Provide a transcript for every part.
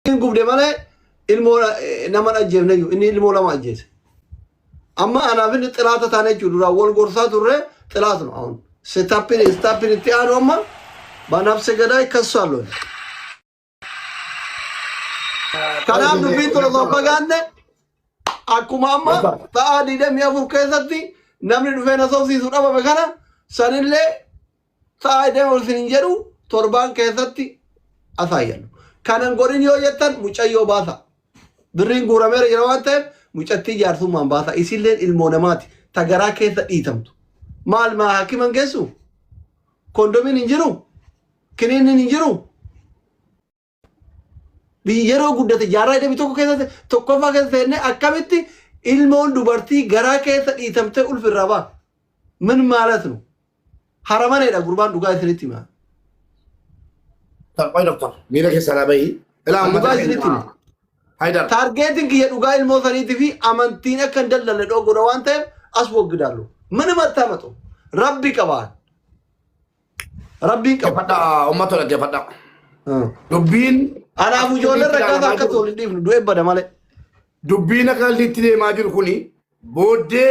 hin gubde malee ilmoo nama ajjeefne iyyuu inni ilmoo lama ajjeese. Amma anaaf inni xiraata taane jechuudha duraan wal gorsaa turre xiraat nu awun. Setappin istappin itti aanu amma banabse gadaa ikkasu alloon. Kanaaf dubbiin tun osoo hin fagaanne akkuma amma ta'aa digdamii afur keessatti namni dhufee na sobsiisu dhabame kana sanillee Sa'aa deema isin hin jedhu torbaan keessatti asaa yallu. Kanan godhin yoo jettan mucayyoo baasa. Birriin guurameera jira waan ta'eef mucattii jaarsummaan baasa. Isilleen ilmoo namaati ta garaa keessa dhiitamtu. Maal maa hakiman geessu? Kondomiin hin jiru? Kiniinniin hin jiru? Biyyi yeroo guddate jaarraa 21 keessatti tokkoffaa keessa seennee akkamitti ilmoon dubartii garaa keessa dhiitamtee ulfi irraa ba'a. Min maalat nu. Haramaneedha gurbaan dhugaa isinitti hima. Qoy doktor. Miira keessaa naa bahi. Ilaa amma Dhugaa isinitti hima. Haydar. Taargeetiin kiyya dhugaa ilmoo saniitii fi amantiin akka hin dallalle dhoo godha waan ta'eef as waggidaallu. Mana mattaamatu. Rabbi qabaan. Rabbiin qabu. Dhaggeeffadhaa, uummata dhaggeeffadhaa. Ah. Dubbiin Anaaf ijoolleen rakkaata akka tool hin dhiifnu du'e bada malee. dubbiin akka inni itti deemaa jiru kuni booddee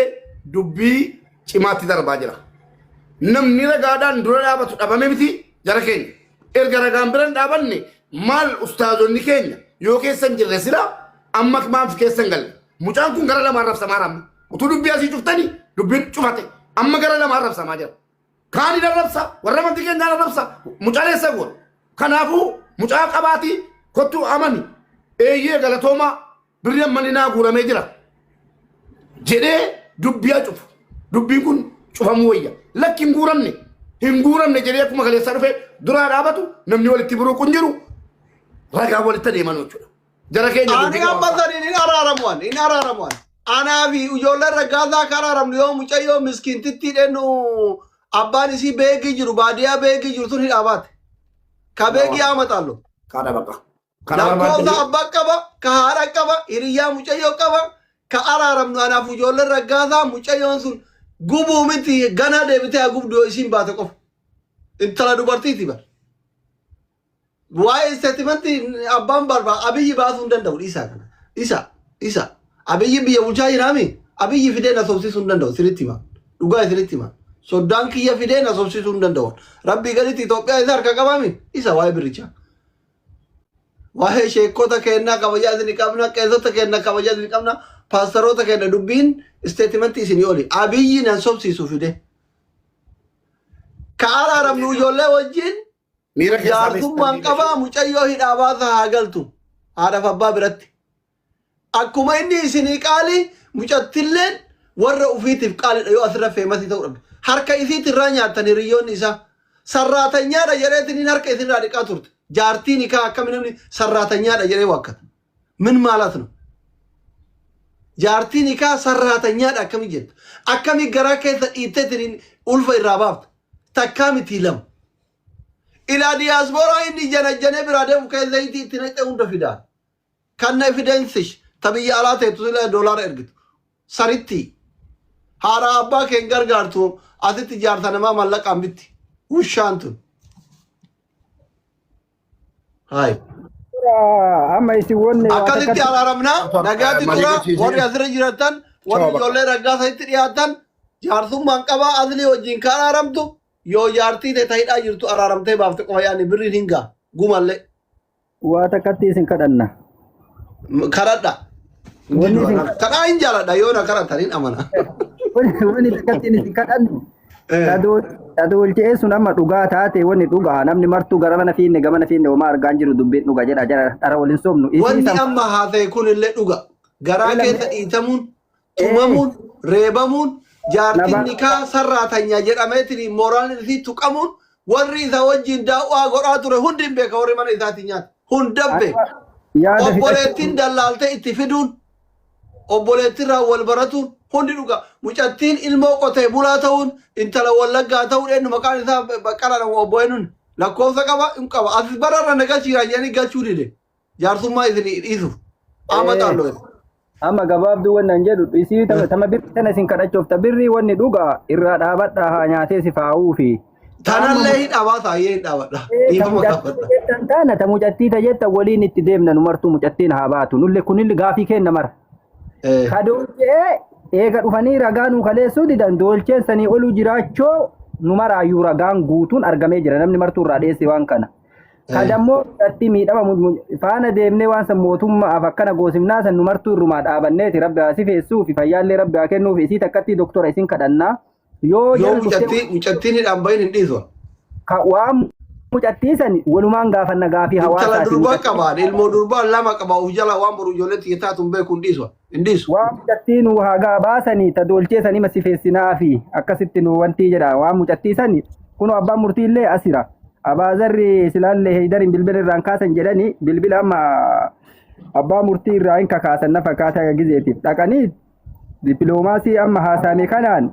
dubbii cimaatti darbaa jira. Namni ragaadhaan dura dhaabatu dhabame miti jara keenya. Erga ragaan bira hin dhaabanne maal ustaazonni keenya yoo keessa hin jirre sila amma maaf keessa hin galle. Mucaan kun gara lamaan rabsamaa ramma. Utuu dubbii asii cuftanii dubbiin cufate amma gara lamaan rabsamaa jira. Kaani narrabsa, warra amantii keenyaa narrabsa, mucaa dheessa goon. Kanaafuu mucaa qabaatii kottu amani. Eeyyee galatoomaa birri ammani naa guuramee jira. Jedhee dubbiyaa cufu. Dubbiin kun cufamuu wayya. Lakki hin guuramne. Hin guuramne jedhee akkuma kaleessaa dhufee duraa dhaabatu namni walitti buruuqu hin jiru. Ragaa walitti adeeman jechuudha. Jara keenya Ani dubbii amma qabaata. saniin hin araaramu ani hin araaramu ani. Anaa fi ijoolleen raggaasaa akka araaramnu yoo mucayyoo miskiintittii dhennu abbaan isii beekii jiru baadiyyaa beekii jiru sun hidhaa baate. Ka beekii haa maxaallu. Kaadha baqa. Kana Lakkoofsa barbaachisa. abbaa qaba, ka haadha qaba, hiriyyaa mucayyoo qaba, ka araaramnu anaaf ijoolleen raggaasaa mucayyoon sun gubuu miti ganaa deebitee haa gubdu yoo isiin baate qofa. Intala dubartiiti bara. Waa'ee isteetimantii abbaan barba abiyyi baasuu hin danda'u dhiisaa kana. Isa isa abiyyi biyya bulchaa jiraami abiyyi fidee na sobsiisuu hin danda'u isinitti hima. Dhugaa isinitti hima. Soddaan kiyya fidee na sobsiisuu hin danda'u. Rabbii gaditti Itoophiyaa isa harka qabaami isa waa'ee birichaa. Waa'ee sheekota kennaa kabajaa isin qabna qeessota kennaa kabajaa isin qabna paastaroota kenna dubbiin isteetimantii isinii oli abiyyi nan sobsiisu fidee. Ka araaramnu ijoollee wajjin Miira keessaa beektan Jaartummaan miidha qabaa ishee. mucayyoo hidhaa baasa haa galtu. Haadhaaf abbaa biratti. Akkuma inni isinii qaali mucattilleen warra ufiitiif qaalidha yoo asirra feemasii ta'uu dhabde. Harka isiitti irraa nyaattan hiriyyoonni isaa. Sarraatanyaadha jedheetiin inni harka isinirraa dhiqaa turte. Jaartiin hikaa akkami namni sarraatanyaadha jedhee waakkata. ምን ማለት ነው? jaartiin hikaa sarraatanyaadha akkami jettu akkami garaa keessa dhiitteetiin ulfa irraa baafta takkaa miti lama ilaa diyaaspooraa inni janajjanee biraa deemu kee zayitii itti naqxee hunda fidaa kanna efidensish ta biyya alaa teettu sila doolaara ergitu saritti haadha abbaa keen gargaartu asitti jaarta namaa mallaqaan bitti wushaan tun Haay. Amma isin wanne waa Akkasitti takkatti araaramnaa Ato- nagaatti eh, tura mariigachiisee. warri asirra jiratan warri Sababa. ijoollee raggaasa itti dhiyaatan jaarsummaan qabaa asli wajjin ka araaramtu yoo jaartii ta'e ta'idhaa jirtu araaramtee baafte qofa yaani birriin hin gaa gumallee waa takkatti isin kadhanna. M- karadha. Wanni isin Kadhaa hin jaaladha yoo na kadhatan hin amana. wanni takkatti isin kadhannu. Tadolche'ee sun amma dhugaa taate wanni dhugaa namni martuu gara mana fiinne gamana fiinne homaa argaan jiru dubbiin dhuga jedha jara dhara waliin sobnu. Wanni amma haasa'e kun illee dhuga. Garaa keessa dhiitamuun, tumamuun, reebamuun, jaartiin nikaa sarraa tanya jedhameetiin mooraan isii tuqamuun warri isa wajjin daawwaa godhaa ture hundi hin beeka warri mana isaatiin nyaate. Hundabbe. Obboleettiin dallaaltee itti fiduun. obboleettirraa wal baratuun hundi dhugaa. Mucattiin ilmoo qotee bulaa ta'uun intala wallaggaa ta'uun eenyu maqaan isaa baqqalaan obbo eenyuun lakkoofsa qaba hin qaba asis bara irra na galchiiraa jedhanii galchuu dide jaarsummaa isin dhiisuuf amma xaalloo jedhe. Amma gabaabduu wanni an jedhu isii tama birri sana isin kadhachuuf ta birrii wanni dhugaa irraa dhaabadhaa haa nyaatee si faa'uu fi Tanallee hin dhaabata ayyee hin dhaabadha. Dhiifama gaafadha. jettan taana ta mucattii ta jettan waliin itti deemna nu martuu mucattiin haa baatu nulle kunille gaafii keenna mara. Eh, Ka doolchee eega dhufanii ragaa nuu kaleessuu didan doolcheen sanii oluu jiraachoo nu maraayyuu ragaan guutuun argamee jira namni martuu irraa dheesse waan kana. Ka Eh. dammoo mucattii miidhama mu- mu- faana deemnee waan san mootummaaf akkana goosifnaa san nu martuu irrumaa dhaabanneeti rabbi haa sifeessuu fi fayyaallee rabbi haa kennuuf isii takkattii doktora isin kadhannaa. Yoo Yoo jara dhuftee mucattii mucattiin hidhaan bahin hin dhiisu. ka- waan mucattii san walumaan gaafanna gaafii Intala hawaasaati durbaa mucattii qabaan ilmoo durbaa lama qaba of jalaa waan boru ijoolleetti hitaa tun beeku hin dhiisu. Hin dhiisu. waan mucattii nu hagaa baasanii ta doolchee sanii masifeessinaa fi akkasitti nu wantii jedha waan mucattii sani kunoo abbaan murtii illee asira abaazarri silaallee heydariin bilbila irraan kaasan jedhanii bilbila amma abbaa murtii irraa hin kakaasan na fakkaata gizeetiif dhaqanii Dippiloomaasii amma haasaame kanaan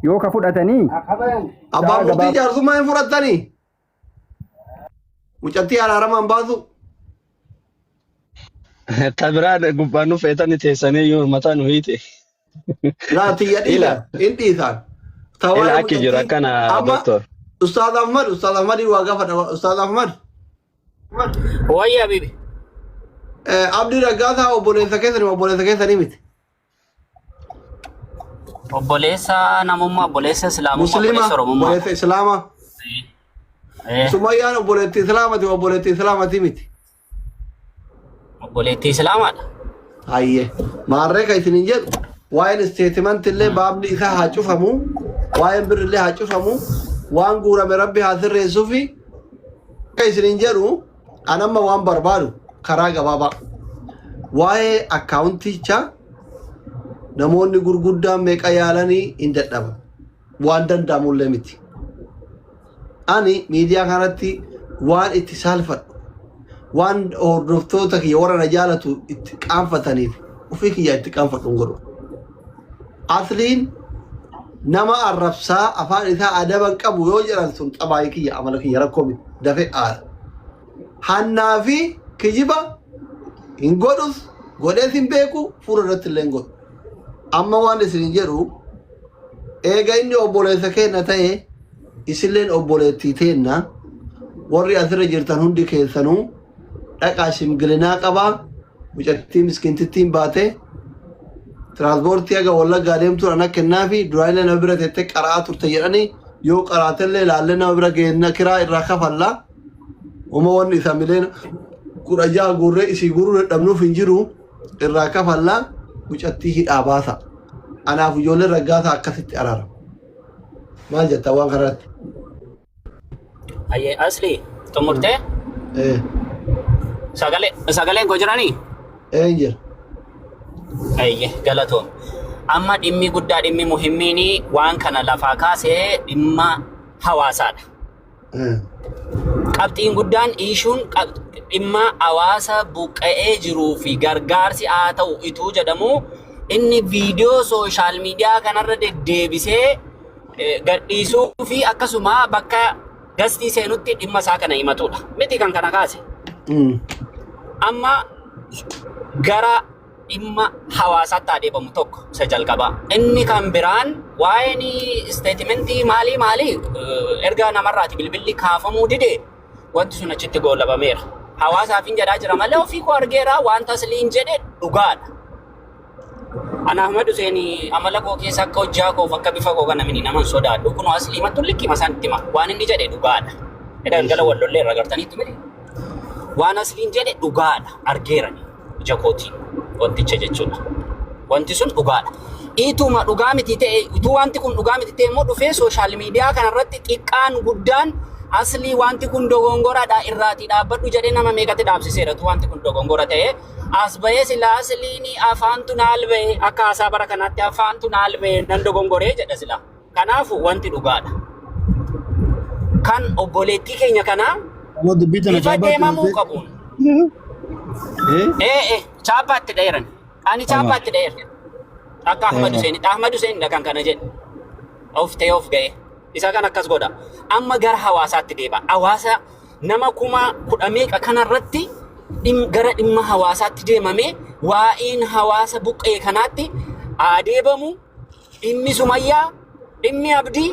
yoo ka fudhatanii Abbaa Sa'a murtii gabaab- jaarsummaa hin fudhattanii? Mucattii araaramaan baasu. Ta biraan gubbaan nu feetani teessanii yoo mataa nu hiite. Laa tiyya Ila. dhiisa. Hin dhiisaan. Ta Ila waa'ee akki jiru mucattii- akkana Amma doktor. Ustaaz Ahmad, Ustaaz Ahmadii waa gaafadha. Ustaaz Ahmad. Wayya habibi. Abdii Raggaasaa obboleessa keessanii obboleessa keessanii miti. Obboleessa namummaa, obboleessa Islaamummaa, Musliima obboleessa Oromummaa. obboleessa Islaamaa. Eh, Sumayyaan obboleettii Islaamati obboleettii Islaamati miti. Obboleettii Islaamaadha. Hayyee. Maarree kan isin hin jedhu waa'een isteetimanti illee baabni isaa haa cufamu, waa'een birri illee haa cufamu, waan guurame rabbi haa sirreessuu fi Akka isiniin jedhu an amma waan barbaadu karaa gabaabaa waa'ee akkaawunticha namoonni gurguddaan meeqa yaalanii hin dadhaban waan danda'amullee miti. Ani miidiyaa kanatti waan itti saalfadhu waan hordoftoota kiyya warra na jaalatu itti qaanfataniif ofii kiyyaa itti qaanfadhu hin godhu. Asliin nama arrabsaa afaan isaa adaba hin qabu yoo jedhan sun xabaayii kiyya amala kiyya rakkoo miti dafe aara. Hannaa fi kijiba hin godhus godhees hin beeku fuula irratti illee hin godhu. Amma waan isin jedhu eega inni obboleessa keenna ta'e isilleen obboleettii teenna warri asirra jirtan hundi keessanuu dhaqaa shimgilinaa qabaa mucattii miskiintittiin baatee tiraanspoortii haga wallaggaa deemtu ana kennaa fi duraanillee nama bira teettee qara'aa turte jedhanii yoo qaraatellee ilaallee nama bira geenna kiraa irraa kafalla uma wanni isa mileen kudha jaha guurree isii guuruu dadhabnuuf hin jiru irraa kafalla mucattii hidhaa baasa anaaf ijoollee raggaasa akkasitti araara maal jettaa waan kanarratti Ayyee asli xumurtee ee sagalee sagaleen koo jiranii? ee jira Ayyee galatoom. Amma dhimmi guddaa dhimmi muhimmiin waan kana lafaa kaasee dhimma hawaasaadha. ee Qabxiin guddaan iishuun qab- dhimma hawaasa buqqa'ee jiruu fi gargaarsi haa ta'u ituu jedhamu inni viidiyoo sooshaal miidiyaa kanarra deddeebisee gadhiisuu fi akkasuma bakka dastii seenutti dhimma isaa kana himatudha. Miti kan kana kaase. Amma gara dhimma hawaasaatti adeemamu tokko isa jalqabaa. Inni kan biraan waa'een isteetimentii maalii maalii eh, erga namarraati bilbilli kaafamuu dide wanti sun achitti goolabameera. Hawaasaaf hin jedhaa jira malee ofii koo argeera wanta asliin jedhe dhugaadha. Ana Ahmad Hussein amala koo keessa akka hojjaa koof akka bifa koo kana mini naman sodaadhu kunoo aslii mattu likkima isaan itti hima waan inni jedhe dhugaadha. Edaan gala wal lollee irra gartaniitti miti. Waan asliin jedhe dhugaadha argeerani ija kootiin wanticha jechuudha. Wanti sun dhugaadha. Ituma dhugaa miti ta'e utuu wanti kun dhugaa miti ta'e immoo dhufee sooshaal miidiyaa kanarratti xiqqaan guddaan aslii wanti kun dogongoradha irraatii dhaabbadhu jedhee nama meeqatti dhaabsiseera utuu wanti kun dogongora ta'e As bahee silaa asliin afaantu naal bahee akka haasaa bara kanaatti afaantu naal bahee nan dogongoree jedha silaa. Kanaafu wanti dhugaadha. Kan obboleettii keenya kanaa Amma dubbii tana bifa chaappaatti deemamuu dhuftee. qabuun. Eh? Ee ee chaappaatti dheeran. Ani Amaa. chaappaatti dheeran. Akka Ahmad Amaa. Hussein. Ahmad Hussein dha kan kana jedhu. Of ta'ee of ga'ee. Isa kan akkas godha. Amma gara hawaasaatti deebi'a. Hawaasa nama kuma kudha meeqa kanarratti dhim- gara dhimma hawaasaatti deemamee waa'een hawaasa buqqee kanaatti adeebamu dhimmi sumayyaa dhimmi abdii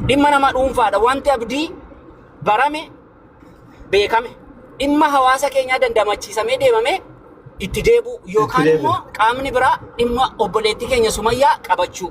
dhimma nama dhuunfaadha wanti abdii barame beekame dhimma hawaasa keenyaa dandamachiisamee deemamee itti deebi'u yookaan deebi'u. immoo qaamni biraa dhimma obboleettii keenya sumayyaa qabachuu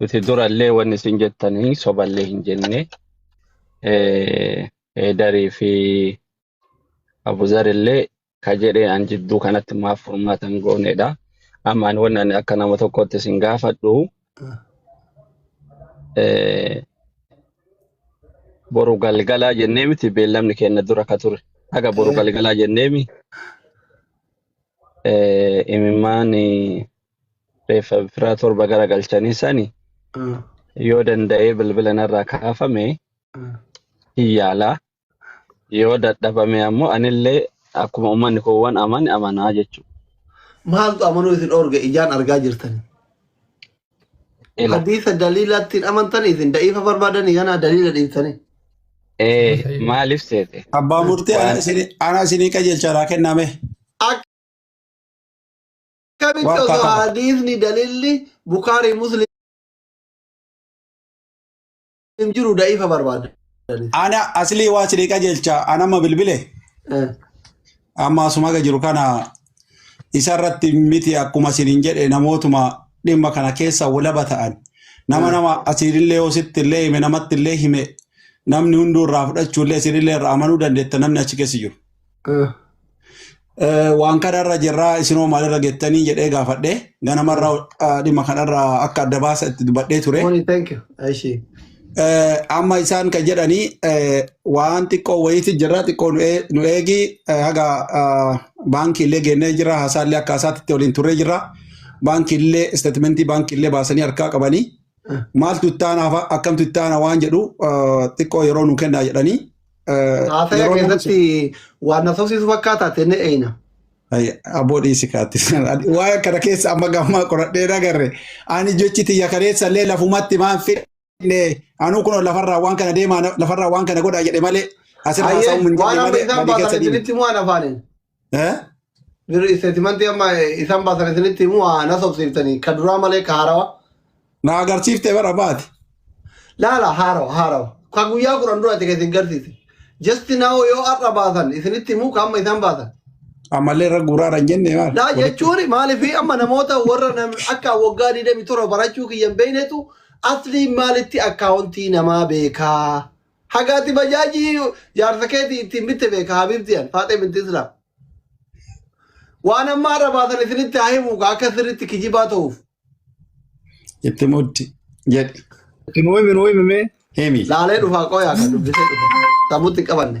Nuti durallee wanni isin jettanii soballee hin jenne. Eh, Heedarii fi Abuzarillee ka jedhee an jidduu kanatti maaf furmaata hin goonedha. Amma ani wanni ani akka nama tokkootti isin gaafadhu eh, boru galgalaa jennee miti beellamni keenya dura ka ture. Haga boru galgalaa jennee mi eh, imimmaan eh, reeffa firaa torba gara galchanii sani Mm. yoo danda'ee bilbila narraa kaafame Mm. hin yaalaa yoo dadhabame ammoo anillee akkuma uummanni koowwan amane amanaa jechuudha. Maaltu amanuu isin dhoorge ijaan argaa jirtan. Ila. Hadiisa daliilaatti hin amantan isin da'iifa barbaadanii kanaa daliila dhiistanii. Ee maaliif seete? Abbaa murtii Waan- ana isinii qajeelchaadhaa kenname. Akka akkamitti Waan osoo faakama. hadiisni dalilli bukaarii muslim jiru da'iifa barbaadani Ana aslii waa sidii qajeelcha an amma bilbile Eh, amma asumaga jiru kana isa irratti miti akkuma sinin jedhe namootuma dhimma kana keessa walaba ta'an nama eh, nama asiinillee yoo sitti illee hime namatti illee hime namni hunduu irraa fudhachuu illee isinillee irraa amanuu dandeetta namni achi keessa jiru. Ah. Eh, waan kanarra jirraa isinoo maalirra gettanii jedhee gaafadhe ganamarra ah, dhimma kanarra akka adda baasa itti dubbadhee ture. Morning, thank you. Ashi. Eh, Amma isaan kan jedhanii eh, waan xiqqoo wayiitti jirra xiqqoo nu ee- nu eegi eh, haga ah, baankiillee geennee jirra haasaallee akka haasaatti waliin turree jirra baankiillee isteetimentii baankiillee baasanii harkaa qabanii Ah. maaltu ittaana akkamtu ittaana waan jedhu ah, xiqqoo yeroo nu kennaa jedhanii Haasaya Yeroo keessatti waan na sobsiisu fakkaata tenne eeyna. Ay, aboo dhiisi kaatti. Waa'ee kana keessa amma gammaa qoradhee nagarre. Ani jechi tiyya kaleessa illee lafumatti maan fidne. Anuu kun lafarraa waan kana deemaa lafarraa waan kana godhaa jedhe malee asirraa Hayyee haasa'uun hin waan jedhe amma malee isaan badii keessa baasan deeme. isinitti himu waan afaaniin. Eh? Birri isteetimantii amma eh, isaan baasan isinitti himu haa na sobsiiftanii ka duraa malee ka haarawa. Na agarsiifte bara baati. Laala haarawa haarawa. Ka guyyaa kudhan duraati ka isin garsiise. Jasti naawoo yoo har'a baasan isinitti himu ka amma isaan baasan. Ammallee irra guuraara hin jenne maal? Laa jechuun maaliif amma namoota warra nam- akka waggaa 27 barachuu kiyyan beeknetu asliin maalitti akkaawuntii namaa beekaa Haga ati bajaajii jaarsa keetii ittiin bitte beeka habiibti an faaxee binti islaam. Waan amma har'a baasan isinitti haa himu ka akka sirriitti kijibaa ta'uuf. Itti muddi jedhi. Itti nuu himi nuu himi mee himi. Laalee dhufaa qoyaa kan dubbisee dhufa. Sammutti hin qabanne.